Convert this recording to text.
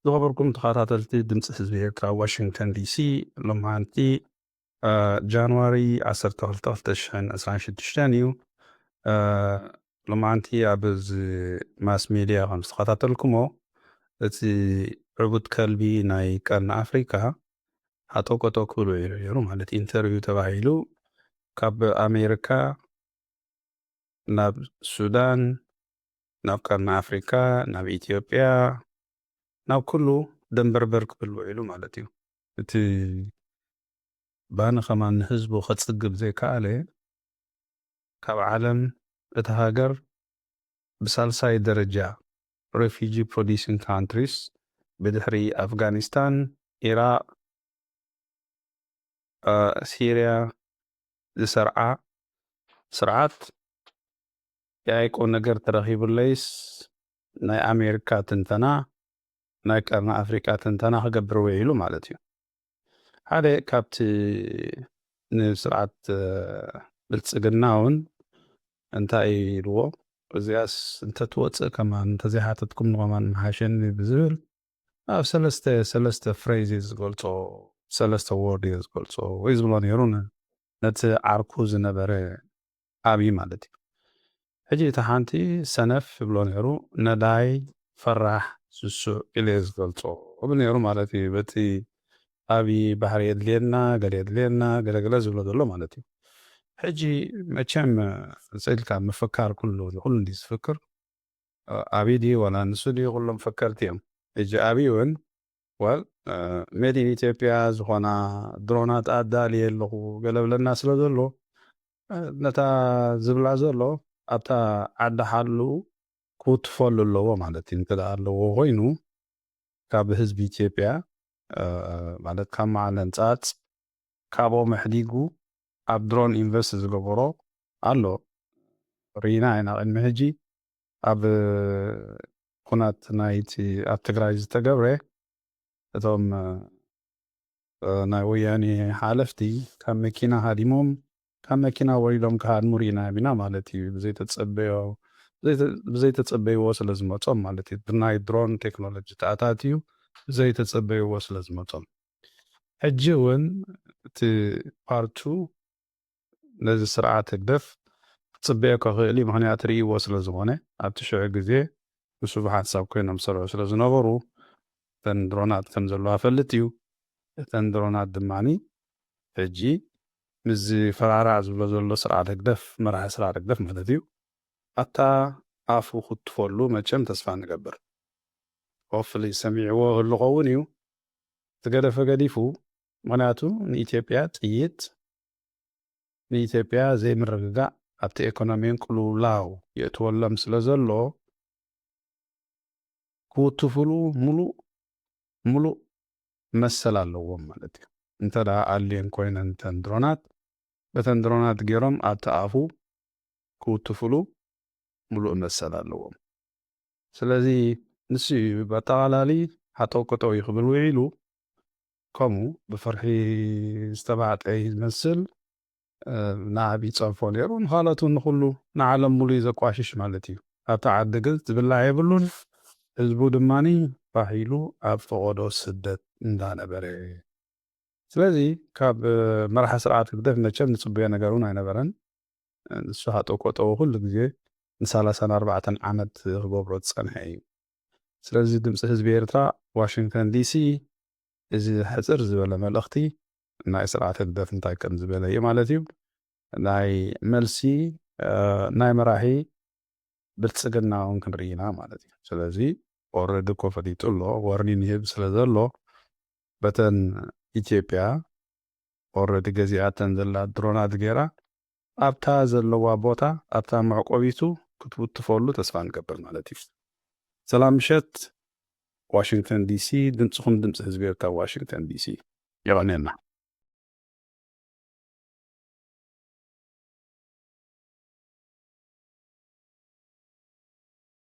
ዝኸበርኩም ተኸታተልቲ ድምፂ ህዝቢ ኤርትራ ዋሽንግተን ዲሲ ሎማዓንቲ ጃንዋሪ 12/2026 እዩ ሎማዓንቲ ኣብ እዚ ማስ ሜድያ ከም ዝተኸታተልኩሞ እቲ ዕቡድ ከልቢ ናይ ቀርኒ ኣፍሪካ ሃጠውቀጠው ክብሉ እዩ ነይሩ ማለት ኢንተርቪው ተባሂሉ ካብ ኣሜሪካ ናብ ሱዳን ናብ ቀርኒ ኣፍሪካ ናብ ኢትዮጵያ ናብ ኩሉ ደንበርበር ክብል ውዒሉ ማለት እዩ። እቲ ባኒ ከማን ንህዝቡ ከፅግብ ዘይከኣለ ካብ ዓለም እታ ሃገር ብሳልሳይ ደረጃ Refugee Producing Countries፣ ብድሕሪ ኣፍጋኒስታን፣ ኢራቕ፣ ሲርያ ዝሰርዓ ስርዓት ያኢ ቁምነገር ተረኺቡለይስ ናይ ኣሜሪካ ትንተና ናይ ቀርኒ ኣፍሪቃ ትንተና ክገብር ዊዒሉ ማለት እዩ። ሓደ ካብቲ ንስርዓት ብልጽግናውን እንታይ ኢልዎ እዚኣስ እንተትወጽእ ከማን እንተዘይሓተትኩም ንኸማን ምሓሸኒ ብዝብል ኣብ ሰለስተ ሰለስተ ፍሬዝ እዩ ዝገልጾ ሰለስተ ዎርድ እዩ ዝገልጾ ወይ ዝብሎ ነይሩ ነቲ ዓርኩ ዝነበረ ዓቢ ማለት እዩ ሕጂ እቲ ሓንቲ ሰነፍ ይብሎ ነሩ ነዳይ ፈራሕ ስሱዕ ኢለ እየ ዝገልጾ እብል ነሩ ማለት እዩ በቲ ዓቢ ባህሪ የድልየና ገለ የድልየና ገለ ገለ ዝብሎ ዘሎ ማለት እዩ ሕጂ መቸም እዚ ኢልካ ምፍካር ኩሉ ንኩሉ እንድዩ ዝፍክር ዓቢ ድዩ ዋላ ንሱ ድዩ ኩሎም ፈከርቲ እዮም ሕጂ ዓቢ ውን Well made in Ethiopia ዝኾና ድሮናት ኣዳልየ ኣለኹ ገለ ብለና ስለ ዘሎ ነታ ዝብላ ዘሎ ኣብታ ዓዲ ሓልኡ ክውትፈሉ ኣለዎ ማለት እዩ እንተ ኣለዎ ኮይኑ ካብ ህዝቢ ኢትዮጵያ ማለት ካብ መዓለን ጻጽ ካብኦም ኣሕዲጉ ኣብ ድሮን ኢንቨስት ዝገበሮ ኣሎ ርኢና ኢና ቅድሚ ሕጂ ኣብ ኩናት ናይቲ ኣብ ትግራይ ዝተገብረ እቶም ናይ ወያኔ ሓለፍቲ ካብ መኪና ሃዲሞም ካብ መኪና ወሪዶም ክሃድሙ ሪኢናዮም ኢና ማለት እዩ ብዘይተፀበዮ ብዘይተፀበይዎ ስለ ዝመፆም ማለት እዩ ብናይ ድሮን ቴክኖሎጂ ተኣታትዩ ብዘይተፀበይዎ ስለ ዝመፆም ሕጂ እውን እቲ ፓርቱ ነዚ ስርዓት ህግደፍ ክጽበዮ ከኽእል'ዩ ምኽንያት ርእይዎ ስለ ዝኾነ ኣብቲ ሽዑ ግዜ ምስኡ ብሓንሳብ ኮይኖም ዝሰርሑ ስለ ዝነበሩ እተን ድሮናት ከም ዘለዋ ፈልጥ'ዩ እተን ድሮናት ድማ ሕጂ ምስዚ ፈራራዕ ዝብሎ ዘሎ ስርዓት ህግደፍ መራሒ ስርዓት ህግደፍ ማለት'ዩ ኣታ ኣፉ ክትትፈሉ መቸም ተስፋ ንገብር ሆፍሊ ሰሚዕዎ ህልኸውን እዩ ዝገደፈ ገዲፉ ምኽንያቱ ንኢትዮጵያ ጥይት፣ ንኢትዮጵያ ዘይምርግጋእ ኣብቲ ኤኮኖሚን ቅልውላው የእትወሎም ስለዘሎ ክውትፍሉ ሙሉእ ሙሉእ መሰል ኣለዎም ማለት እዩ። እንተ ኣልየን ኮይነን እተን ድሮናት በተን ድሮናት ገይሮም ኣብቲ ኣፉ ክውትፍሉ ሙሉእ መሰል ኣለዎም። ስለዚ ንሱ እዩ ብኣጠቓላሊ ሃጠውቀጠው እዩ ክብል ውዒሉ። ከምኡ ብፍርሒ ዝተባዕጠ እዩ ዝመስል። ንዓብ ይጸርፎ ነይሩ፣ ንኻልኦት እውን ንኹሉ ንዓለም ምሉእ እዩ ዘቋሽሽ ማለት እዩ። ኣብታ ዓዲ ግን ዝብላዕ የብሉን፣ ህዝቡ ድማ ፋሕ ኢሉ ኣብ ፈቖዶ ስደት እንዳ ነበረ። ስለዚ ካብ መራሒ ስርዓት ህግደፍ መቸም ንጽበዮ ነገር እውን ኣይነበረን። ንሱ ሃጠው ቀጠው ኩሉ ግዜ ንሳላሳን ኣርባዕተን ዓመት ክገብሮ ዝጸንሐ እዩ። ስለዚ ድምጺ ህዝቢ ኤርትራ ዋሽንግተን ዲሲ እዚ ሕጽር ዝበለ መልእኽቲ ናይ ስርዓት ህግደፍ እንታይ ከም ዝበለ እዩ ማለት እዩ ናይ መልሲ ናይ መራሒ ብልጽግና እውን ክንርኢ ኢና ማለት እዩ ስለዚ ኦረዲ እኮ ፈሊጡ ኣሎ ወርኒን ይህብ ስለ ዘሎ በተን ኢትዮጵያ ኦረዲ ገዚኣተን ዘላ ድሮናት ገይራ ኣብታ ዘለዋ ቦታ ኣብታ መዕቆቢቱ ክትውትፈሉ ተስፋ ንገብር ማለት እዩ። ሰላም ምሸት ዋሽንግተን ዲሲ ድምጽኹም ድምጺ ህዝቢ ኤርትራ ዋሽንግተን ዲሲ። የቐንየልና።